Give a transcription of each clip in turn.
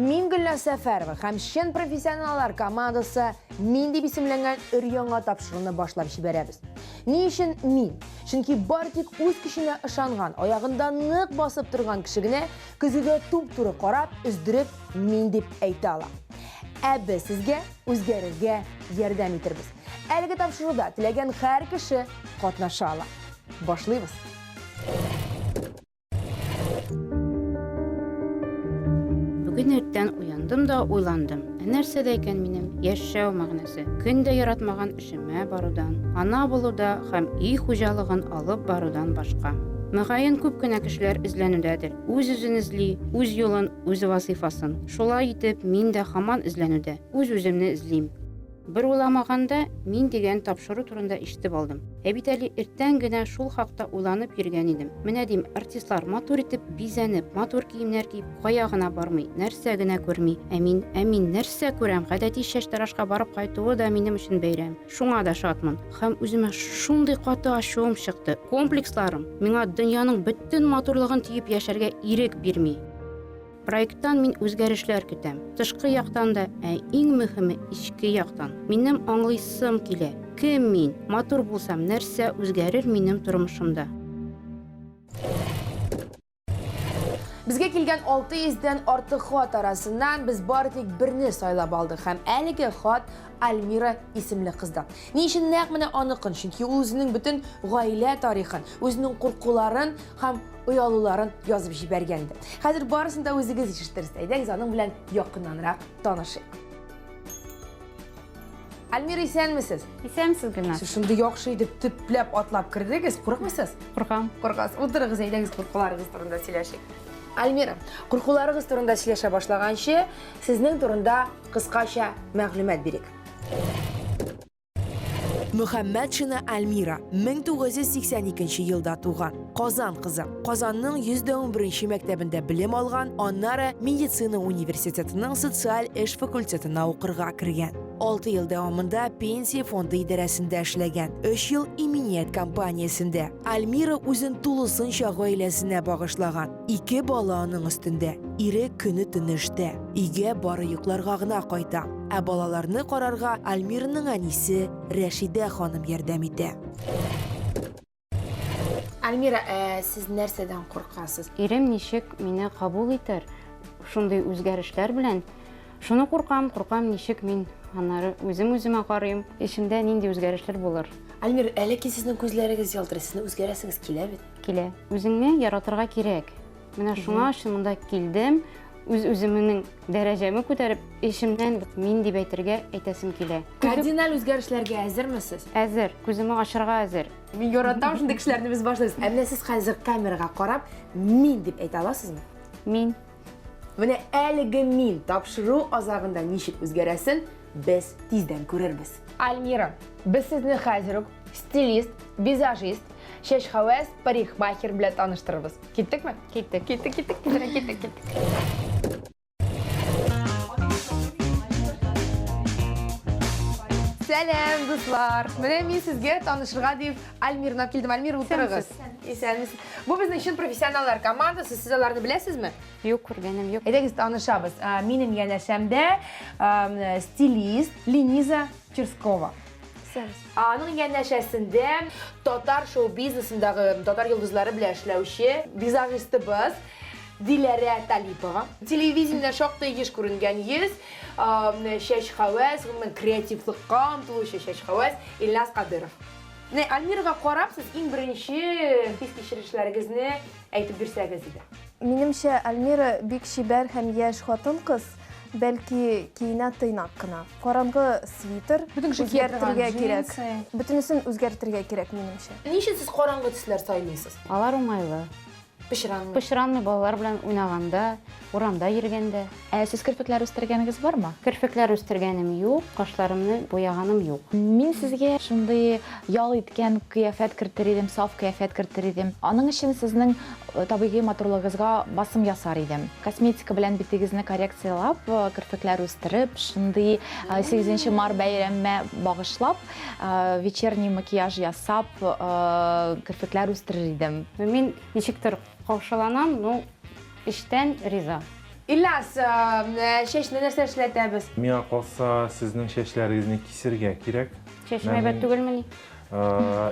Мин Гөлназ Сәфәрова һәм чын профессионаллар командасы Мин дип исемләнгән өр-яңа тапшыруны башлап җибәрәбез. Ни өчен мин? Чөнки бары тик үз көченә ышанган, аягында нык басып торган кеше генә көзгегә туп-туры карап, өздереп мин дип әйтә ала. Ә без сезгә үзгәрергә ярдәм итербез. Әлеге тапшыруда теләгән һәр кеше катнаша ала. Башлыйбыз. Бүген иртән уяндым да уйландым. Ә нәрсәдә икән минем яшәү мәгънәсе? Көн дә яратмаган эшемә барудан, ана булуда һәм өй хуҗалыгын алып барудан башка. Мөгаен, күп кенә кешеләр эзләнүдәдер. Үз-үзен эзли, үз юлын, үз вазыйфасын. Шулай итеп, мин дә һаман эзләнүдә. Үз-үземне эзлим. Бер уйламаганда, мин дигән тапшыру турында ишетеп алдым. Ә бит әле иртән генә шул хакта уйланып йөргән идем. Менә дим, артистлар матур итеп бизәнеп, матур киемнәр киеп, кая гына бармый, нәрсә генә күрми. Ә мин, ә мин нәрсә күрәм? Гадәти чәчтарашка барып кайтуы да минем өчен бәйрәм. Шуңа да шатмын. Һәм үземә шундый каты ачуым чыкты. Комплексларым миңа дөньяның бөтен матурлыгын төеп яшәргә ирек бирми. Проекттан мин үзгәрешләр көтәм. Тышкы яктан да, ә иң мөһиме ичке яктан. Минем аңлыйсым килә, кем мин, матур булсам, нәрсә үзгәрер минем тормышымда. Безгә килгән 600 дән артык хат арасыннан без бары тик берне сайлап алдык һәм әлеге хат Альмира исемле кыздан. Ни өчен нәкъ менә аныкын? Чөнки ул үзенең бөтен гаилә тарихын, үзенең куркуларын һәм оялуларын язып җибәргән иде. Хәзер барысын да үзегез ишетерсез. Әйдәгез аның белән якыннанрак танышыйк. Әлмира, исәнмесез? Исәнмесез, Гөлназ. Сез шундый яхшы итеп төпләп атлап кердегез. Курыкмыйсыз? Куркам. Куркасыз. Утырыгыз, әйдәгез куркуларыгыз турында сөйләшик. Әлмира, куркуларыгыз турында сөйләшә башлаганчы, сезнең турында кыскача мәгълүмат бирик. Мөхәммәтшина Альмира 1982 елда туган. Казан кызы. Казанның 111 мәктәбендә белем алган, аннары медицина университетының социаль эш факультетына укырга кергән. 6 ел дәвамында пенсия фонды идарәсендә эшләгән, 3 ел иминият компаниясендә. Альмира үзен тулысынча гаиләсенә багышлаган. Ике бала аның өстендә. Ире көне төне эштә. Өйгә бары йокларга гына кайта. Ә балаларны карарга Альмираның әнисе Рәшидә ханым ярдәм итә. Альмира, ә сез нәрсәдән куркасыз? Ирем ничек мине кабул итәр? Шундый үзгәрешләр белән шуны куркам, куркам, ничек мин аннары үзем үземә карыйм, эчемдә нинди үзгәрешләр булыр? Альмир, әле ки сезнең күзләрегез ялтырый, сезнең үзгәрәсегез килә бит? Килә. Үзеңне яратырга кирәк. Менә шуңа өчен монда килдем. Үз үземнең дәрәҗәмә күтәреп, эшемнән мин дип әйтергә әйтәсем килә. Кардинал үзгәрешләргә әзермесез? Әзер, күземә ашырга әзер. Мин яратам шундый кешеләрне без башлыйбыз. Ә менә сез хәзер камерага карап, мин дип әйтә аласызмы? Мин. Менә әлеге мин тапшыру азагында ничек үзгәрәсен без тиздән күрербез. Альмира, без сезне хәзер үк стилист, визажист, Чәч хәвәс парикмахер белән таныштырыбыз. Киттекме? Киттек. Киттек, киттек, киттек, киттек, киттек. Сәлем, дуслар. Менә мин сезгә танышырга дип Альмирны килдем. Альмир, утырыгыз. Исәнмесез. Бу безнең чын профессионаллар командасы. Сез аларны беләсезме? Юк, күргәнем юк. Әйдәгез танышабыз. Минем янәшәмдә стилист Лениза Черскова. Аның янәшәсендә татар шоу-бизнесындагы татар йолдызлары белән эшләүче визажистыбыз Диләрә Талипова. Телевидениедә шактый еш күренгән йөз, чәч хәвәс, гомумән креативлыкка омтылучы чәч хәвәс Ильназ Кадыров. Менә Альмирага карап, сез иң беренче хис-кичерешләрегезне әйтеп бирсәгез иде. Минемчә, Альмира бик чибәр һәм яшь хатын-кыз. Бәлки киенә тыйнак кына. Караңгы свитер Бөтен кеше кия торган үзгәртергә кирәк. джинсы. Бөтенесен үзгәртергә кирәк, минемчә. Ни өчен сез караңгы төсләр сайлыйсыз? Алар уңайлы. Пычранмый. Пычранмый балалар белән уйнаганда, урамда йөргәндә. Ә сез керфекләр үстергәнегез бармы? Керфекләр үстергәнем юк, кашларымны буяганым юк. Мин сезгә шундый ял иткән кыяфәт кертер идем, саф кыяфәт кертер идем. Аның өчен сезнең Табигый матурлыгыгызга басым ясар идем. Косметика белән битегезне коррекцияләп, керфекләр үстереп, шундый 8 март бәйрәмемә багышлап, вечерний макияж ясап, керфекләр үстерер идем. Мин ничектер каушаланам, ну, эчтән риза. Ильяс, чәчне нәрсә эшләтәбез? Миңа калса, сезнең чәчләрегезне кисергә кирәк. Чәчем әйбәт түгелмени?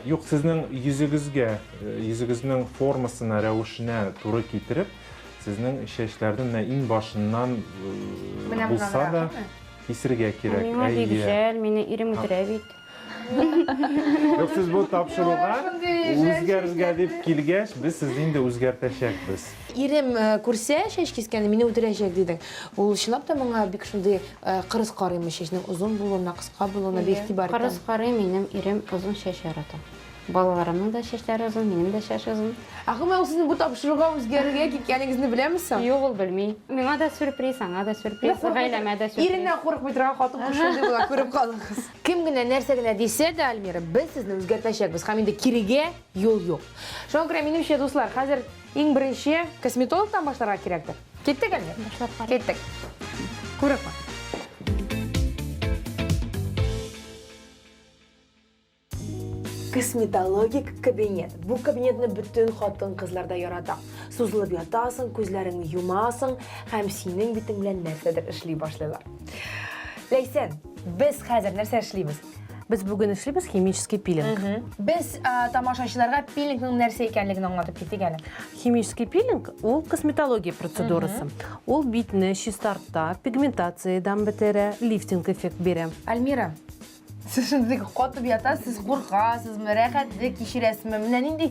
Юк, сезнең йөзегезгә, йөзегезнең формасына, рәвешенә туры китереп, сезнең чәчләрне менә иң башыннан булса да кисергә кирәк. Миңа бик җәл, мине ирем үтерә бит. Юк, сез бу тапшыруга үзгәрергә дип килгәч, без сезне инде үзгәртәчәкбез. Ирем күрсә чәч кискәнне, мине үтерәчәк дидең. Ул чынлап та моңа бик шундый Э, кырыс карыймы чәчнең озын булуына, кыска булуына бе игътибар итәм. Кырыс карый, минем ирем озын чәч ярата. Балаларымның да чәчләре озын, минем дә чәч озын. Ә гомумән ул сезнең бу тапшыруга үзгәрергә киткәнегезне беләме соң? Юк, ул белми. Миңа да сюрприз, аңа да сюрприз, гаиләмә дә сюрприз. Иреннән курыкмый торган хатын-кыз шундый була, күреп калыгыз. Кем генә нәрсә генә дисә дә, Альмира, без сезне үзгәртәчәкбез һәм инде кирегә юл юк. Шуңа күрә, минемчә, дуслар, хәзер иң беренче косметологтан башларга кирәктер. Киттек әле? Башлап кара. Киттек. Күреп бар. Косметологик кабинет. Бу кабинетны бүтін хатын кызларда ярата. Сузылып ятасың, күзләрең юмасың, һәм синең битең белән нәрсәдер эшли башлыйлар. Ләйсән, без хәзер нәрсә эшлибез? Без бүген эшлибез химический пилинг. Без а, тамашачыларга пилингның нәрсә икәнлеген аңлатып китик әле. Химический пилинг ул косметология процедурасы. Ул битне чистарта, пигментациядан бетерә, лифтинг эффект бирә. Альмира, сез шундый катып ятасыз, куркасызмы, рәхәтлек кичерәсезме? Менә нинди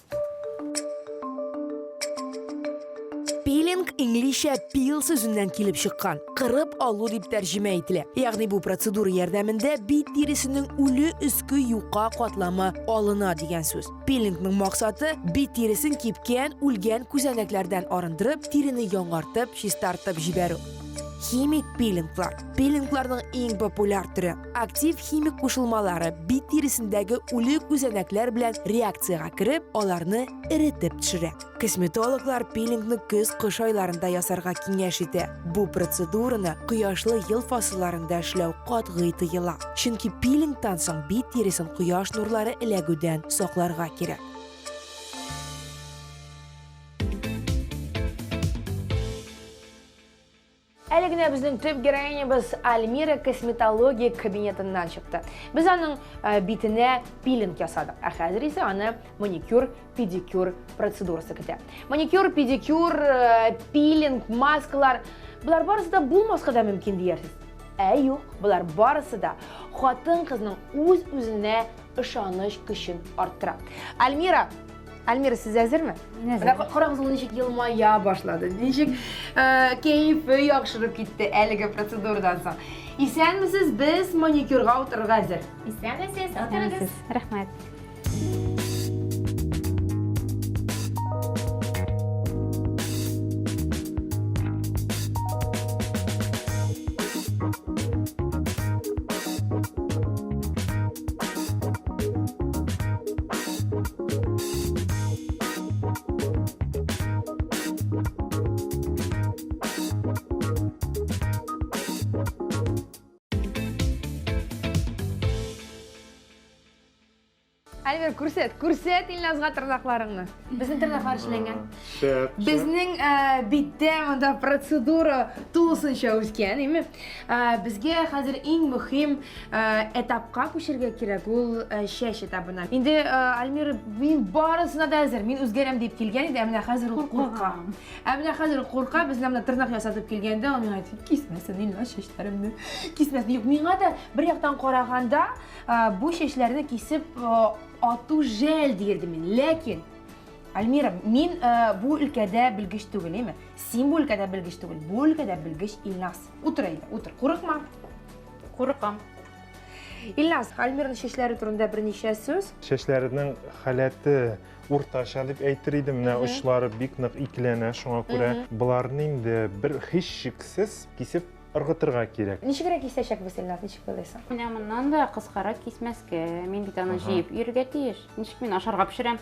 Пилинг инглизчә пил сүзеннән килеп чыккан. Кырып алу дип тәрҗемә ителә. Ягъни бу процедура ярдәмендә бит тиресенең үле өске юка катламы алына дигән сүз. Пилингның максаты бит тиресен кипкән, үлгән күзәнәкләрдән арындырып, тирене яңартып, чистартып җибәрү. Химик пилинглар. Пилингларның иң популяр төре Актив химик кушылмалары бит тиресендәге үле күзәнәкләр белән реакциягә кереп, аларны эретеп төшерә. Косметологлар пилингны көз кыш айларында ясарга киңәш итә. Бу процедураны кояшлы ел фасылларында эшләү катгый тыела. Чөнки пилингтан соң бит тиресен кояш нурлары эләгүдән сакларга кирәк. Әле генә безнең төп героинябыз Альмира косметология кабинетыннан чыкты. Без аның э, битенә пилинг ясадык, ә хәзер исә аны маникюр, педикюр процедурасы көтә. Маникюр, педикюр, э, пилинг, маскалар, болар барысы да булмаска да мөмкин диярсез. Ә юк, болар барысы да хатын-кызның үз-үзенә ышаныч көчен арттыра. Альмира Альмира, сез әзерме? Мин әзер. Менә карагыз, ул ничек елмая башлады. Ничек э, кәефе яхшырып китте әлеге процедурадан соң. Исәнмесез, без маникюрга утырырга әзер. Исәнмесез, утырыгыз. Рәхмәт. Альбер, күрсәт, күрсәт Илназга тырнакларыңны. Безнең тырнаклар эшләнгән. Безнең биттә монда процедура тулысынча үскән, име? Безгә хәзер иң мөһим этапка күчергә кирәк, ул чәч этабына. Инде Альмира, мин барысына да әзер, мин үзгәрәм дип килгән иде, ә менә хәзер ул курка. Ә менә хәзер курка, без менә тырнак ясатып килгәндә, ул миңа әйтте, кисмәсен, Ильнар, чәчләремне, кисмәсен. Юк, миңа да бер яктан караганда, бу чәчләрне кисеп ату жәл диердем мин. Ләкин Альмира, мин э, бу өлкәдә белгеч түгел, әйме? Син бу өлкәдә белгеч түгел, бу өлкәдә белгеч Илназ. Утыр әйме, утыр. Курыкма. Курыкам. Илназ, Альмираның чәчләре турында берничә сүз. Чәчләренең халәте уртача дип әйтер идем. Менә очлары бик нык икеләнә, шуңа күрә боларны инде бер һич шиксез кисеп ыргытырга кирәк. Ничегрәк кисәчәк без Илназ, ничек уйлыйсың? Менә моннан да кыскарак кисмәскә. Мин бит аны җыеп йөрергә тиеш. Ничек мин ашарга пешерәм?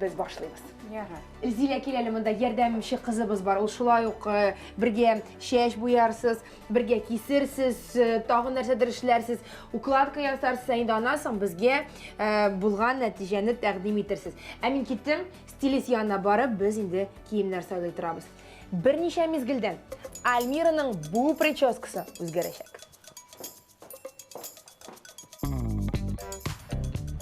без башлыйбыз. Ярар. Зилә кил әле монда ярдәмче кызыбыз бар. Ул шулай ук э, бергә чәч буярсыз, бергә кисерсез, э, тагын нәрсәдер эшләрсез, укладка ясарсыз, ә инде аннан соң безгә э, булган нәтиҗәне тәкъдим итерсез. Ә мин киттем, стилист янына барып, без инде киемнәр сайлый торабыз. Берничә мизгелдән Альмираның бу прическасы үзгәрәчәк.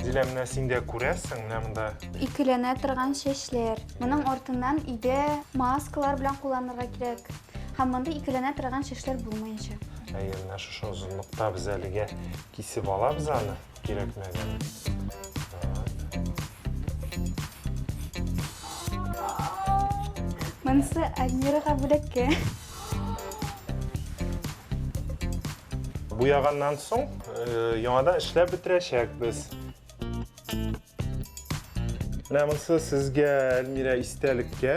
Лилә, менә син дә күрәсең, менә монда. Икеләнә торган чәчләр. Моның артыннан иде маскалар белән кулланырга кирәк. Һәм монда икеләнә торган чәчләр булмаячак. Әйе, менә шушы озынлыкта без әлегә кисеп алабыз аны. Кирәкмәгән. Монысы Альмирага бүләккә. Буяганнан соң э, яңадан эшләп бетерәчәкбез. Менә монысы сезгә Әлмирә истәлеккә.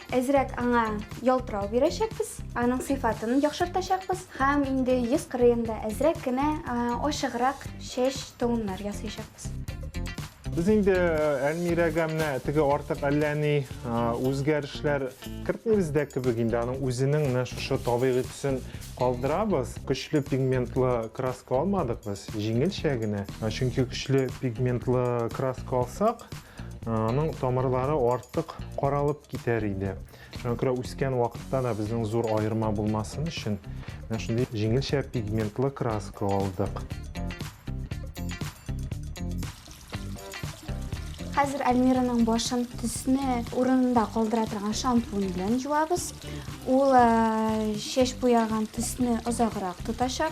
Әзрәк аңа ялтырау бирәчәкбез, аның сыйфатын яхшыртачакбыз һәм инде йөз кырыенда әзрәк кенә ачыграк чәч тоннар ясыйчакбыз. Без инде Әлмирәгә менә теге артык әллә ни үзгәрешләр кертмибез дә кебек, инде аның үзенең менә шушы табигый төсен калдырабыз. Көчле пигментлы краска алмадык без, җиңелчә генә. Чөнки көчле пигментлы краска алсак, Аның тамырлары артык каралып китәр иде. Шуңа күрә үскән вакытта да безнең зур аерма булмасын өчен, менә шундый җиңелчә пигментлы краска алдык. Хәзер Альмираның башын төсне урынында калдыра торган шампунь белән юабыз. Ул чәч буяган төсне озаграк тотачак.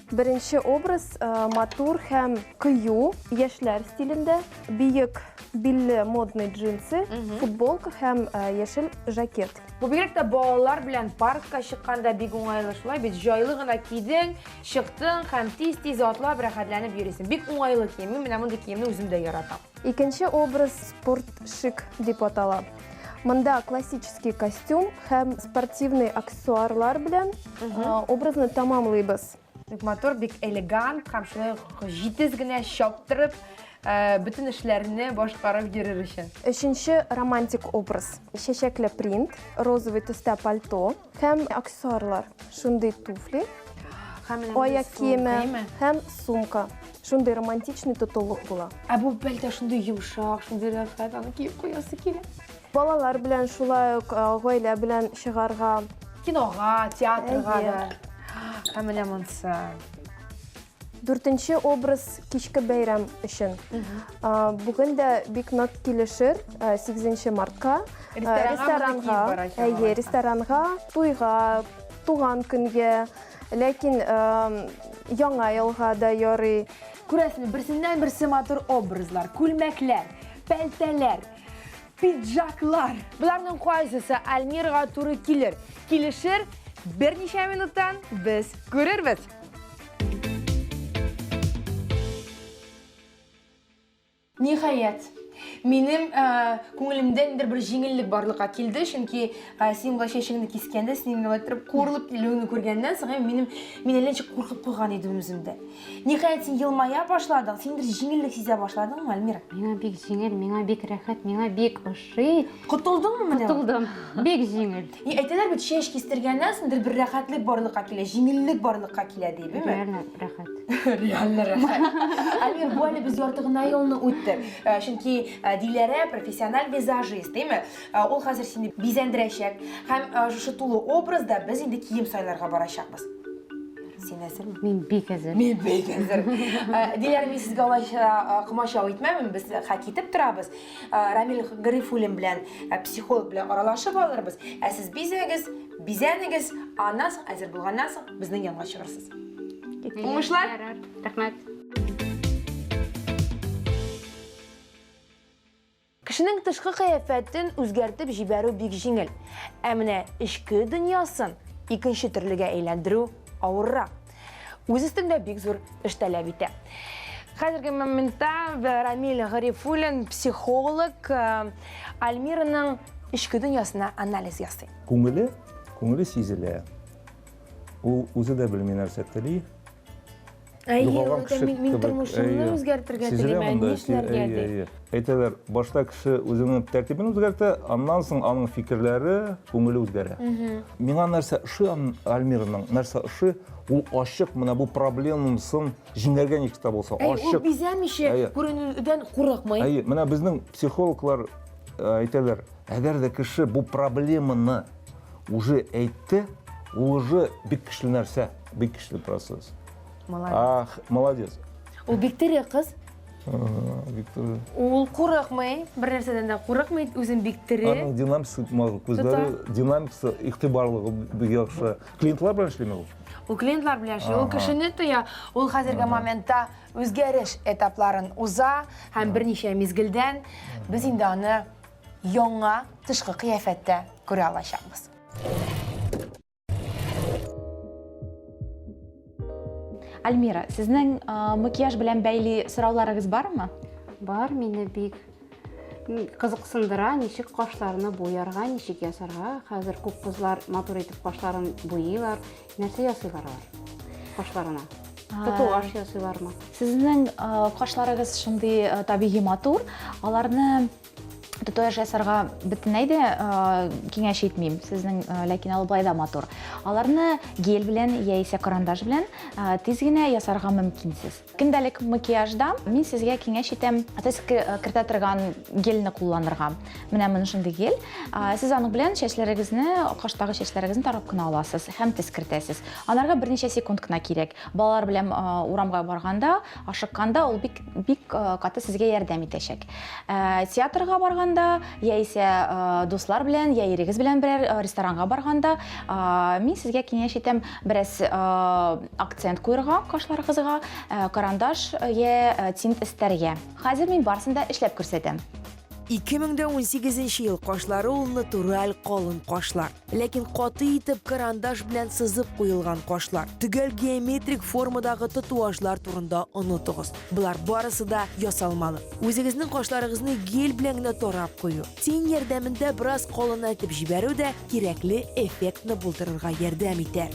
Беренче образ э, матур һәм кыю, яшьләр стилендә. Биек билле модный джинсы, футболка һәм э, яшел жакет. Бу бигрәк тә балалар белән паркка чыкканда бик уңайлы шулай бит. Җайлы гына кидең, чыктың һәм тиз-тиз атлап рәхәтләнеп йөрисең. Бик уңайлы кием. Мин менә мондый киемне үзем дә яратам. Икенче образ спорт шик дип атала. Монда классический костюм һәм спортивный аксессуарлар белән образны тамамлыйбыз. Бик матур, бик элеган, һәм шулай ук җитез генә чаптырып, бөтен эшләрне башкарып йөрер өчен. Өченче романтик образ, чәчәкле принт, розовый төстә пальто. Һәм аксессуарлар. Шундый туфли, аяк киеме һәм сумка. Шундый романтичный тотылык була. Ә бу бәлдә шундый йомшак, шундый рәхәт, аны киеп куясы килә. Балалар белән шулай ук гаилә белән чыгарга. Кинога, театрга да. Һәм менә монсы. Дүртенче образ кичке бәйрәм өчен. Бүген дә бик нык килешер 8 мартка. Ресторанга, әйе, ресторанга, туйга, туган көнгә, ләкин яңа елга да ярый. Күрәсең, берсеннән берсе матур образлар, күлмәкләр, пәлтәләр, пиджаклар. Боларның кайсысы Альмирга туры килер? Килешер, берничә минуттан без күрербез. Ниһаять, минем ә, күңелемдә ниндидер бер җиңеллек барлыкка килде, чөнки ә, син болай чәчеңне кискәндә, син инде иттереп курылып килүеңне күргәннән соң, минем мин әллә ничек куркып куйган идем үземдә. Ниһаять, син елмая башладың, син бер җиңеллек сизә башладыңмы, Альмира? Миңа бик җиңел, миңа бик рәхәт, миңа бик ошый. Ши. Котылдыңмы менә? Котылдым. Бик җиңел. И, әйтәләр бит, чәч кистергәннән соңдыр бер рәхәтлек барлыкка килә, җиңеллек барлыкка килә ди, беме? Реально рәхәт. Реально рәхәт. Амир, бу әле без ярты гына елны үттек. Э, чөнки э, Диләрә профессиональ визажист, димме? Э, ул хәзер сине бизәндерәчәк. Һәм шушы тулы образда без инде кием сайларга барачакбыз. Син әзерме? Мин бик әзер. Мин бик әзер. Диләрә, мин сезгә алайча комачау итмәмен, без хәк итеп торабыз. Рамил Гарифуллин белән психолог белән аралашып алырбыз. Ә сез бизәгез, бизәнегез, аннан соң әзер булганнан соң безнең янга чыгырсыз. Уңышлар! Рәхмәт! Кешенең тышкы кыяфәтен үзгәртеп җибәрү бик җиңел. Ә менә эчке дөньясын икенче төрлегә әйләндерү авыррак. үз өстендә бик зур эш таләп итә. Хәзерге моментта Рамил Гарифуллин психолог э, Альмираның эчке дөньясына анализ ясый. Күңеле, күңеле сизелә. Ул үзе дә белми нәрсә тели. Югалган кеше кебек. Мин тормышымны үзгәртергә телим, ә нишләргә ди? Әйтәләр, башта кеше үзенең тәртибен үзгәртә, аннан соң аның фикерләре, күңеле үзгәрә. Миңа нәрсә ошый Альмираның, нәрсә ошый, ул ачык, менә бу проблемасын җиңәргә ничек тә булса, ачык. Ул бизәмичә, күренүдән курыкмый. Әйе, менә безнең психологлар э, әйтәләр, әгәр дә кеше бу проблеманы уже әйтте, ул уже бик көчле нәрсә, бик көчле процесс. Молодец. Молодец. Ул бик тере кыз. Виктор. Ул курыкмый, бер нәрсәдән дә курыкмый, үзен бик тере. Аның динамикасы мал, күзләре динамикасы, игътибарлыгы бик яхшы. Клиентлар белән эшлиме ул? Ул клиентлар белән эшли, ул кешене тоя, ул хәзерге моментта үзгәреш этапларын уза һәм берничә мизгелдән без инде аны яңа тышкы кыяфәттә күрә алачакбыз. Альмира, сезнең макияж белән бәйли сорауларыгыз бармы? Бар, мине бик кызыксындыра, ничек кашларны буярга, ничек ясарга. Хәзер күп кызлар матур итеп кашларын буйлар. Нәрсә ясыйлар алар кашларына? Татуаж ясыйлармы? Сезнең кашларыгыз шундый табигый матур, аларны татуаж ясарга бөтенләй дә киңәш итмим сезнең ләкин алып былай да матур аларны гель белән яисә карандаш белән тиз генә ясарга мөмкинсез көндәлек макияжда мин сезгә киңәш итәм сез кертә торган гельне кулланырга менә менә шундый гель сез аның белән чәчләрегезне каштагы чәчләрегезне тарап кына аласыз һәм тез кертәсез анарга берничә секунд кына кирәк Балалар белән урамга барганда, ашыкканда ул бик бик каты сезгә ярдәм итәчәк. Театрга барганда, яисә дуслар белән, я ирегез белән берәр ресторанга барганда, мин сезгә киңәш итәм, бераз акцент куерга кашларыгызга, карандаш я тинт эстәргә. Хәзер мин барысын да эшләп күрсәтәм. 2018 ел кашлары ул натураль калын кашлар. Ләкин каты итеп карандаш белән сызып куелган кашлар, төгәл геометрик формадагы татуажлар турында онытыгыз. Болар барысы да ясалмалы. Үзегезнең кашларыгызны гель белән генә тарап кую, тень ярдәмендә бераз калынайтып җибәрү дә кирәкле эффектны булдырырга ярдәм итә.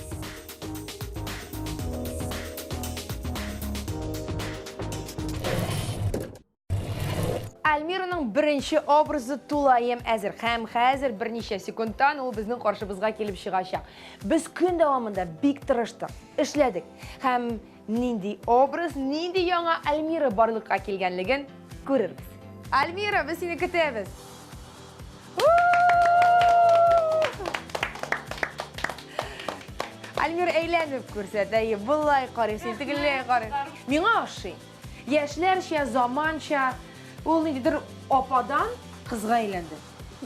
Альмираның беренче образы тулаем әзер. Хәм хәзер берничә секундтан ул безнең каршыбызга килеп чыгачак. Без көн дәвамында бик тырыштык, эшләдек. Хәм нинди образ, нинди яңа Альмира барлыкка килгәнлеген күрербез. Альмира, без сине көтәбез. Альмира әйләнеп күрсәтә, болай карый, син тегеләй карый. Миңа ошый. Яшьләрчә, заманча, ул ниндидер ападан кызга әйләнде.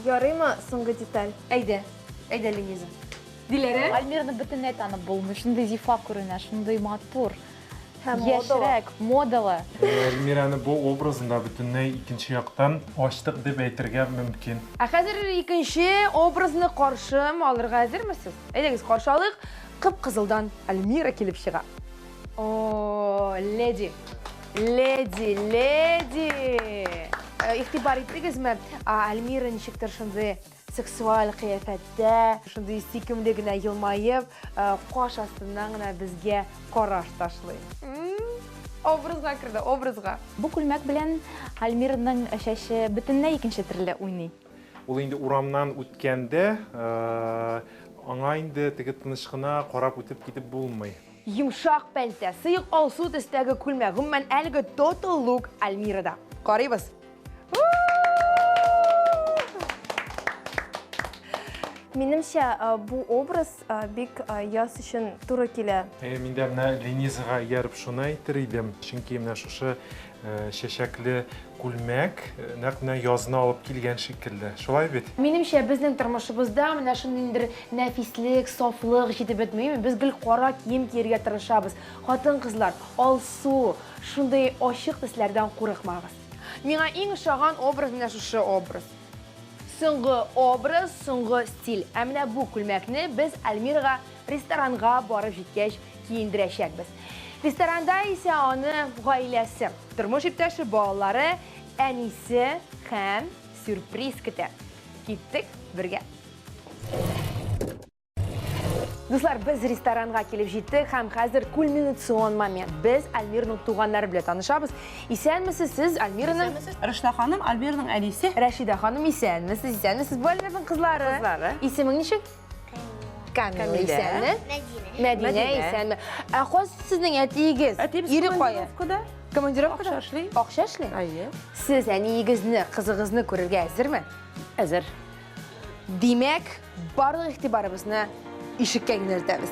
Ярыймы соңгы деталь? Әйдә, әйдә, Лениза. Диләрә? Альмирны бөтенләй танып булмый, шундый зифа күренә, шундый матур, яшьрәк, модалы. Альмираны бу образында бөтенләй икенче яктан ачтык дип әйтергә мөмкин. Ә хәзер икенче образны каршы алырга әзермесез? Әйдәгез, каршы алыйк, кып-кызылдан Альмира килеп чыга. О, леди. Леди, леди. Э, Ихтибар иттегезме? Альмира ничектер шундый сексуаль кыяфәттә, шундый сөйкемле генә елмаеп, э, каш астыннан гына безгә караш ташлый. Образга керде, образга. Бу күлмәк белән Альмираның чәче бөтенләй икенче төрле уйный. Ул инде урамнан үткәндә, э, аңа инде теге тыныч кына карап үтеп китеп булмый. Йомшак пәлтә, сыек алсу төстәге күлмәк, гомумән, әлеге Total Look Альмирада. Карыйбыз. Минемчә, бу образ бик яз өчен туры килә. Мин дә менә Ленизага ияреп шуны әйтер идем, чөнки менә шушы чәчәкле күлмәк, нәкъ менә язны алып килгән шикелле. Шулай бит? Минемчә, безнең тормышыбызда менә шундый ниндер нәфислек, сафлык җитеп бетмиме? Без гел кара кием киергә тырышабыз. Хатын-кызлар, алсу, шундый ачык төсләрдән курыкмагыз. Миңа иң ошаган образ менә шушы образ. Соңгы образ, соңгы стиль. Ә менә бу күлмәкне без Альмирага Ресторанга барып җиткәч киендерәчәкбез. Ресторанда исә аны гаиләсе, тормыш иптәше, балалары, әнисе һәм сюрприз көтә. Киттек бергә. Дуслар, без ресторанга килеп җиттек һәм хәзер кульминацион момент. Без Альмирның туганнары белән танышабыз. Исәнмесез сез, Альмираның? Рәшидә ханым, Альмираның әнисе. Рәшидә ханым, исәнмесез, исәнмесез. Бу Альмираның кызлары. Кызлары. Исемең ничек? Камила исәнме? Мәдинә исәнме? Ә хос сезнең әтиегез? Әтиебез ире кая? Командировкада. Акча эшли. Акча эшли? Әйе. Сез әниегезне, кызыгызны күрергә әзерме? Әзер. Димәк, барлык игътибарыбызны ишеккә юнәлтәбез.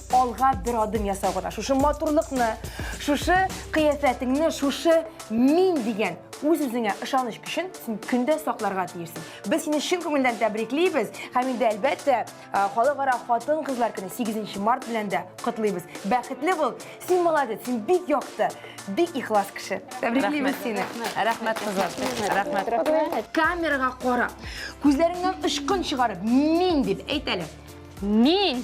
Алга бер адым ясау гына. Шушы матурлыкны, шушы кыяфәтеңне, шушы мин дигән үз үзеңә ышаныч көчен син көндә сакларга тиешсең. Без сине чын күңелдән тәбриклибез һәм инде әлбәттә халыкара хатын-кызлар көне 8 март белән дә котлыйбыз. Бәхетле бул, син молодец, син бик якты, бик ихлас кеше. Тәбриклибез сине. Рәхмәт кызлар. Рәхмәт. Камерага кара. Күзләреңнән очкын чыгарып, мин дип әйт әле. Мин.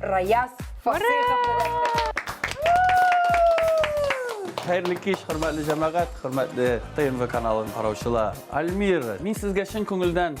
Раяз Фасыйховны дәштек. Хәерле кич, хөрмәтле җәмәгать, хөрмәтле ТНВ каналын караучылар. Альмир, мин сезгә чын күңелдән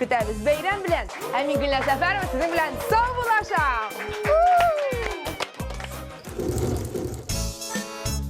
Көтәбез бәйрәм белән. Ә мин Гөлназ Сәфәрова сезнең белән сау булашам.